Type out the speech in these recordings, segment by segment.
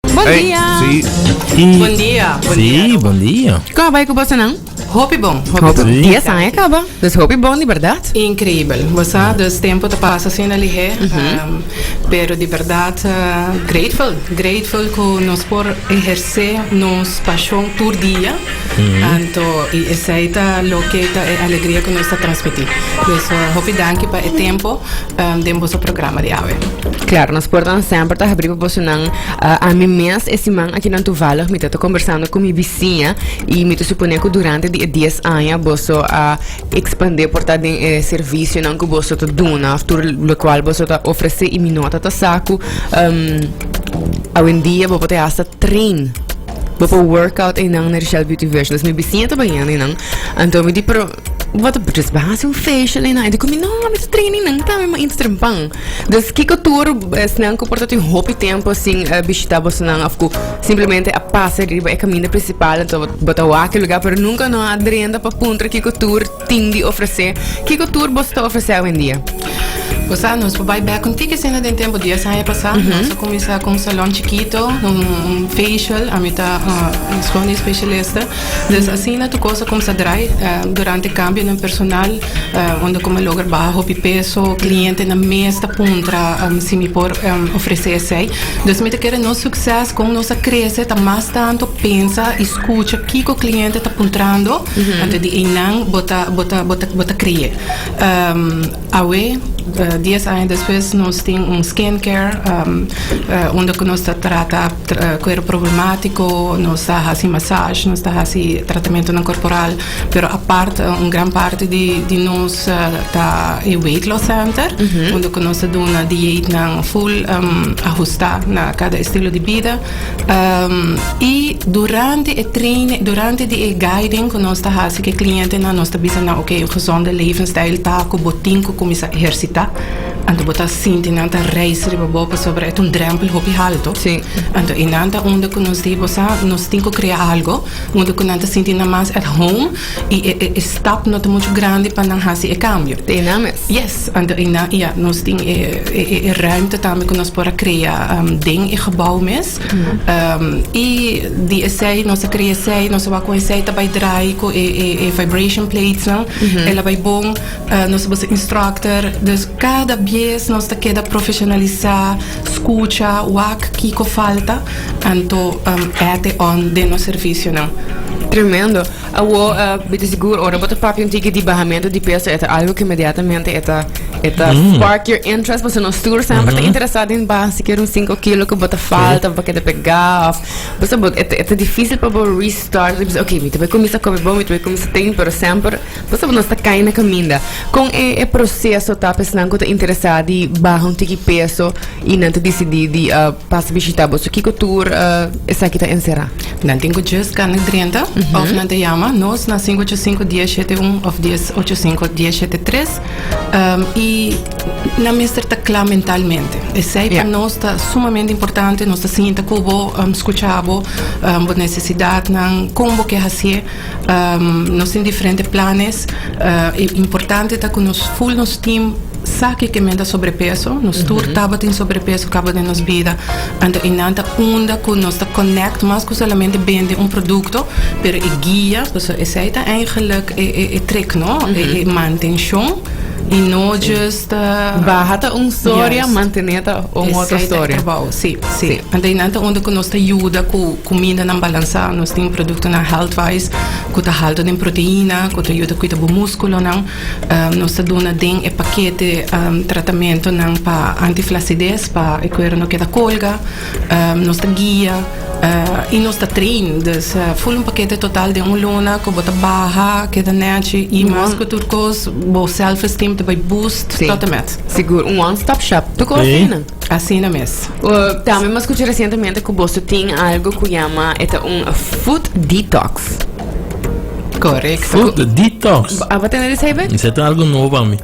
Bon Hey, dia. sí. Bon dia, bon dia. Sí, buen día. Ka bai ku bosa nan? Hopi bon. Hopi bon. Dia san e kaba. Dus hopi bon di berdad. Increíble. Vos sa, dus tempo te pasa sin a lihe. um, pero di verdad, uh, grateful. Grateful cu nos por ejerce nos pasion tur dia. Anto, y esai ta loke ta e alegria cu nos ta transmiti. Dus, uh, hopi danki pa e tempo. den boso programa di awe. Klar, nos portanan semper ta habrí pa bosonan. Ami mes e siman aki nan tuvallig mi ta ta kombersando ku mi bisiña i mi ta suponé ku durante di e dies aña boso a ekspandé por ta den e servisionan ku boso ta duna òf tur lokual boso ta ofresé i mi no ta ta sa ku awendia bo por ta hasta train, bo por workout einan na di Shell Beauty Vision. Dus mi bisiña ta bañando einan anto mi di. Wata Brutus bai hasi un feesha lei nai. Dikon mi, no, mi ta traini nan ta mi mainta trempan. Dus kiko tur esnan ku por ta tin hopi tempu sin bishita bosonan òf ku simplemente a pasa riba e kaminda prinsipal anto bo ta wak e lugá pero nunka no a drenta pa puntra kiko tur tin di ofresé? Kiko tur boso ta ofresé awendia? Bo sa nos por bai bèk un tiki asina den tempu dies aña pasá. Nos a kuminsá ku un salòn chikito, un feishal. Ami ta skohe un espeshalista. Dus asina tur cos a comenzá draai durante cambio den personal unda cu mi a logra baha hopi peso, clientenan mes ta puntra si mi por ofrecé esey. Dus mi ta kere nos succes con nos a crece ta mas tanto pensa y scucha kico cliente ta puntrando antes di eynan bo ta creé. Awe, dies aña despues nos tin un skin care unda ku nos ta trata kuer problematiko, nos ta hasi masazh, nos ta hasi tratamentunan korporal, pero apart un gran parti di nos ta e wait loss center unda ku nos ta duna dietnan full ahustá na kada estilo di bida. Um, y durante e training, durante di e guiding cu nos ta haci cu e clientenan, nos ta bisa nan, oké, un gezonde levensstijl ta cu bo tin cu cuminsa ehercita. Anto bo ta sinti nan ta rijs riba bo pasobra e ta un drempel hopi halto. Sí. Anto, y nan ta unda cu nos di, bo sa, nos tin cu crea algo unda cu nan ta sinti nan mas at home. y e e e stap no ta mucho grandi pa nan haci e cambio. Te na mes. Yes, ante ey na ya nos tin e e e e ruimte tambe cu nos por a crea um, den e gebouw mes. Um, y di esey nos a crea esey, nos a wak cu esey ta bay draai cu e e e vibration plates nan, el a bay bon, uh, nos a bisa instructor, dus cada bies nos ta keda profesionalisa. Scucha, wak kico falta, anto add e on den nos servicionan. Tremendo. Awo, uh, eh, bit sigur, ora bota papi un tiki di bajamento di peso, eta algo que inmediatamente eta, eta mm. spark your interest, pues nos tour sempre mm -hmm. te interesado in baja, si quiero un 5 kilo que bota falta, porque te pega, of, pues eta, eta difícil para restart, pues, ok, mi te voy a começar a comer bom, mi te voy a começar a pero sempre, Pasobra ku nos ta kai na kaminda. Kon e e proseso ta pa esnan ku ta interesá di baha un tiki peso i nan ta disidí di pasa bishitá bo? So kiko tur esaki ta enserá? Nan tin ku djes ka na drenta òf nan ta yama nos na sinku ocho sinku dies shete un òf dies ocho sinku dies shete tres i nan mester ta kla mentalmente. Esei pa nos ta sumamente importante. Nos ta sinta ku bo, skucha bo, bo nesesidatnan, kon bo ke hasié. Nos tin diferente planes e importante ta cu nos full nos team sa kico men ta sobrepeso nos tur tabata tin sobrepeso caba den nos bida anto e nan ta unda cu nos ta connect mas cu solamente bende un producto pero e guia pasobra esey ta eigenlijk e trick no e mantencion y no just baha ta un storia mantener ta un otro storia esey ta e trabao si si anto e nan ta unda cu nos ta yuda cu Kumindanan balansá, nos tin produktonan healthwise ku ta haltu den proteina, ku ta yuda kuida bo múskulonan. Nos ta duna den e pakete tratamentonan pa anti-flasides pa e kuera no keda kolga. Nos ta guia i nos ta train. Dus ful un pakete total den un luna ku bo ta baha, keda nèchi i mas ku tur kos bo self-esteem ta bai boost tòt en mèt. Sigur, un one-stop shop. Tur kos ta ina. Asina mes. Tambe mas kuchi resientemente ku boso tin algo ku yama e ta un food detox. Correcto. Food detox. A ba tene di sebe? Is het algo nuevo para mí.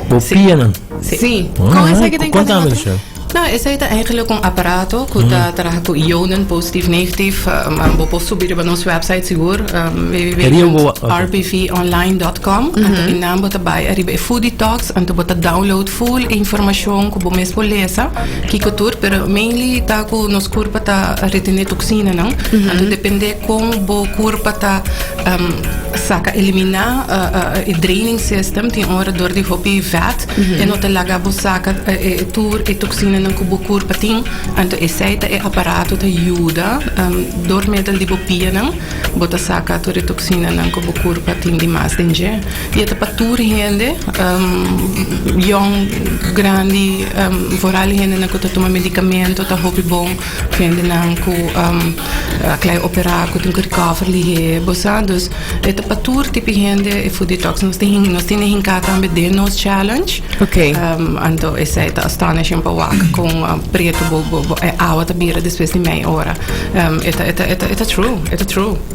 Bo Sí. pienen. Sí. Ah, Kon esa que ten kon tame cadena? zo. Nou, esa heet eigenlijk een apparato que ta traha ku ionen positief, negatief. Um, um, bopo subi riba nos website sigur, um, Riba wa- oké. www.rbvonline.com. Mm Innan bota bai riba e food detox. Anto bo ta download full e informashon ku bo mes por lesa kiko tur pero mainly ta ku nos kurpa ta retené toksinanan anto dependé kon bo kurpa ta saka eliminá e draining system tin ora dor di hopi vet e no ta laga bo saka tur e toksinanan ku bo kurpa tin anto esei ta e aparato ta yuda dor medel di bo pianan bo ta saka tur e toksinanan ku bo kurpa tin di mas den dje. Y e ta pa tur hende, yòn, grandi, vooral e hendenan cu ta tuma medicamento ta hopi bon cu hendenan cu a clai operá, cu tin cu recover lihé, bo sa. Dus e ta pa tur tipi hende e Food Detox. Nos tin, nos tin e hinká tambe den nos challenge. Ok. Anto esei ta astonishing pa wak con pretu bo, bo, bo, e awa ta bira despues di mei ora. E ta, e ta, e ta true, e ta true.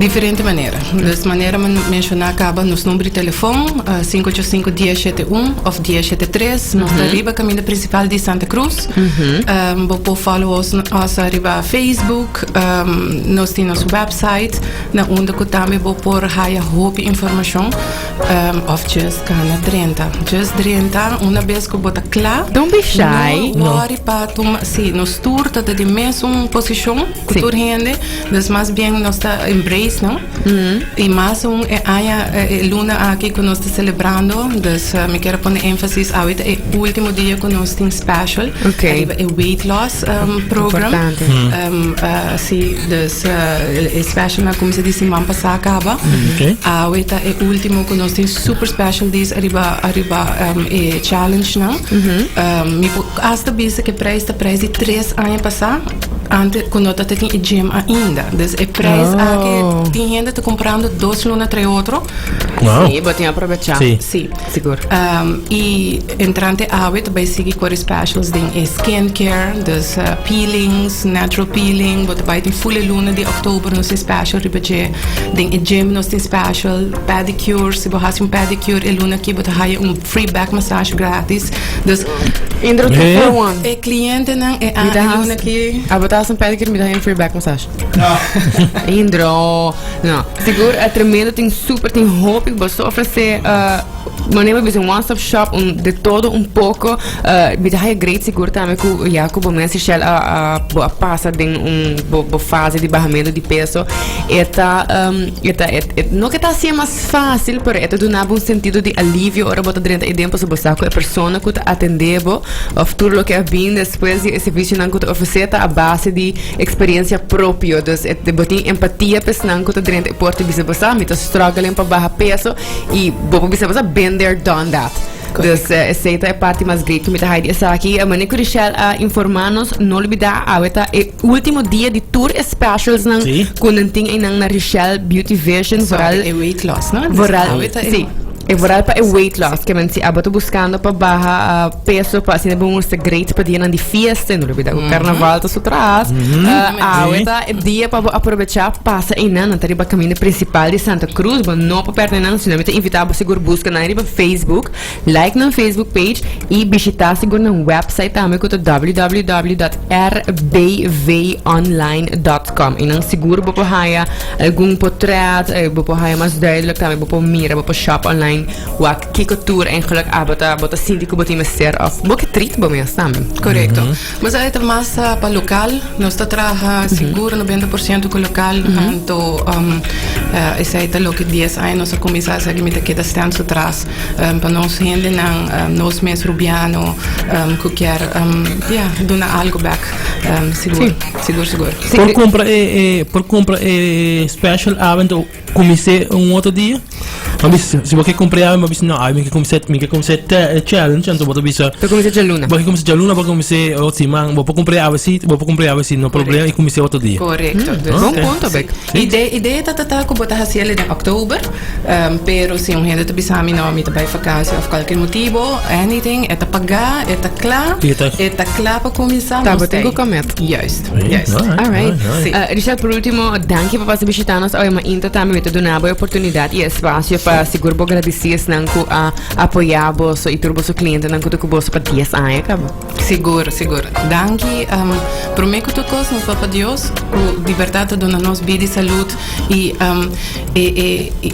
Diferente manera. Des manera mi menshoná kaba nos number di telefòn sinku ocho sinku dies shete un òf dies shete tres. Nos ta riba kaminda prinsipal di Santa Krus. Bo por fòlo os riba Facebook. Nos tin nos wèpsait na unda ku tambe bo por haya hopi informashon òf djis gana drenta. Djis drenta una bes ku bo ta kla. Don be shy. No wòri pa tuma, sí, nos tur ta di mesun posishon. cu tur hende. Dus mas bien nos ta embrace, no? Y mas aún e aña, e luna aki cu nos ta celebrando. Dus eh, mi quiero pone énfasis ahorita e último dia cu nos tin special. Ok. Arriba e weight loss um, program. Importante. Um, uh, sí, dus uh, el- el special na como se dice man pasá acaba. Oké. Ahorita e último con nos tin super special days arriba arriba um, e challenge na. Um, mi po- hasta bisa que prijs de prijs die tres años pasá. Ante cu no tata tin e gym ainda. Dus e prijs oh. aki, tin gente te comprando dos luna tre otro. Wow. Sí, botin aprovechar. Sí. sí. Seguro. Um, y entrante awit bij sigi core specials din e skincare, dus uh, peelings, natural peeling, bot bij tin full luna di oktober nos tin special riba je. Din e gym nos tin special, pedicure, si bo hasi un pedicure e luna ki bot haya un Free back massage gratis. Dus e klientenan e anunan ki. Abo ta hasi un pedicure mi ta haña un free back massage. Indro. No. Sigur e tremendo tin super tin hopi ku boso ofrese. Manera bisa un one stop shop un de todo un poco. Mi ta haña great sigur tambe ku ya ku bo mes e shel a bo a pasa den un bo fase di bahamento di peso e ta. E ta, e, no ke ta hasié mas fásil, pero e ta duna bo un sentido di alivio ora bo ta drenta Edén, paso bo sa ku e persona ku ta atendé bo of tur loke a bin despues di e servisionan ku ta ofresé ta a base di eksperiencia propio. Dus e, bo tin empatia pa esnan ku ta drenta e por ta bisa bo sa, mi ta struggling pa baha peso i bo por bisa bo sa, been there, done that. Dus eh, esei ta e parti mas great ku mi ta haai di esaki. Eh, Mane ku Richelle a informá nos, no olbidá awe ta e Ultimo dia di tur e specials nan Sí. cu nan tin einan na Richelle Beauty Vision Zo, vooral e weight loss, no? Dis vooral awe ta e- sí e vooral pa e weight loss que men si abo ta buscando pa baha ah, peso pa asina bo muestra great pa dianan di fiesta y no olbida cu carnaval ta su tras Ah, awe Sí. ta e dia pa bo aprovecha pasa einan nan ta riba camino principal di Santa Cruz bo no pa perde nan sino mi ta invita bo sigur busca nan riba Facebook Like nan Facebook page y bishita sigur nan website tambe cu ta www.rbvonline.com y nan sigur bo por haya algun potret y bo por haya mas duidelijk tambe bo por mira bo por shop online wak kico tur engeluk abo ta bo ta sinti cu bo tin mester of bo ke treat bo mes tambe. Correcto. Nos a eta mas pa local nos ta traha sigur noventa por ciento cu local anto esey ta loke dies aña nos a cuminsa a segi mi ta keda stent so tras pa nos hendenan nos mes Rubiano cu kier ja duna algo bek sigur sigur sigur. Por compra e special avent. Cu mester un otro dia. Bo bisa, si bo ke cumpre algo, bo bisa, no, ay, mi ke cumpse, mi ke cumpse te, eh, challenge, anto bo ta bisa, Por comencé dje luna. bo ke cumpse djaluna, bo ke cumpse ot siman, bo por cumpre avesi, bo por cumpre avesi, no problema, y cumpse otro dia. Correcto. Dus, Bon Oké. punto, Beck. Sí. Idee, idee ta ta ta cu bota haciele den oktober. ehm, pero si un hende ta bisa mi no, mi ta bay vakantie of cualkier motibo, anything, e ta pagá, e ta cla, Y e ta- e ta cla pa cuminsa, Tá, nos bo tem cu comet. Juist. Yes. All right. Sí. Uh, Richard, por último, dankie por pasar visitarnos hoy, maar inta también te donar boa oportunidad y espacio para seguro bo agradecidos nan ku a apoyar bo so y turbo so cliente nan ku te kubo so pa 10 años kabo. Seguro, seguro. Dankie. Um, primeer ku tot kos, nos papa Dios, ku di verdad te dona nos bidi salud y um, e, e, e,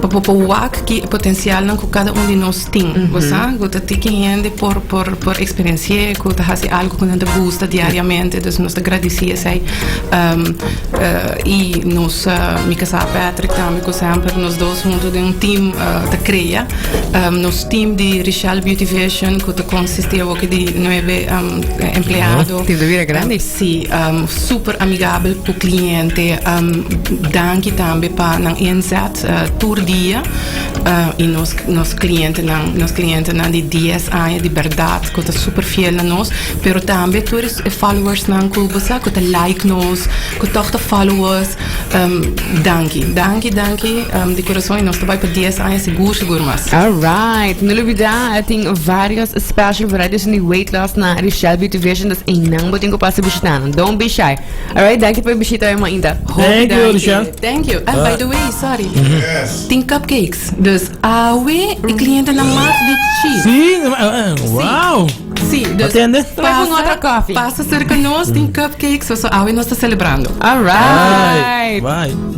pa, pa, pa wak ki potencial nan ku cada un di nos tin gosa cu ta tiki hende por por por experienci'e cu ta haci algo cu nan ta gusta diariamente dus nos ta gradici esey y nos mi casa Patrick tambe cu semper nos dos hunto den un team ta crea nos team di Richelle Beauty Vision cu ta consisti awo ki di nuebe empleado Team ta bira grandi. si super amigabel cu cliente danki tambe pa nan inzet tur dia. y nos nos clientenan nos clientenan di dies aña di berdad cu ta super fiel na nos pero tambe tur e followersnan cu bo sa cu ta like nos cu toch ta follow us danki danki danki di corazon y nos ta bai pa dies aña segur segur mas. Alright, no lo bida a tin varios special varieties di weight loss na Richelle Beauty Vision, dus einan bo tin cu pasa bishita nan. Don't be shy. Alright, danki pa e bishita e mainta. Hopi danki. Thank you. And by the way, sorry. Tin cupcakes, dus awe e clientenan mas di chi. Sí, wow. Sí, dus Atende. pasa, pasa cerca nos, tin cupcakes, so awe nos ta celebrando. Alright. Bye. Bye.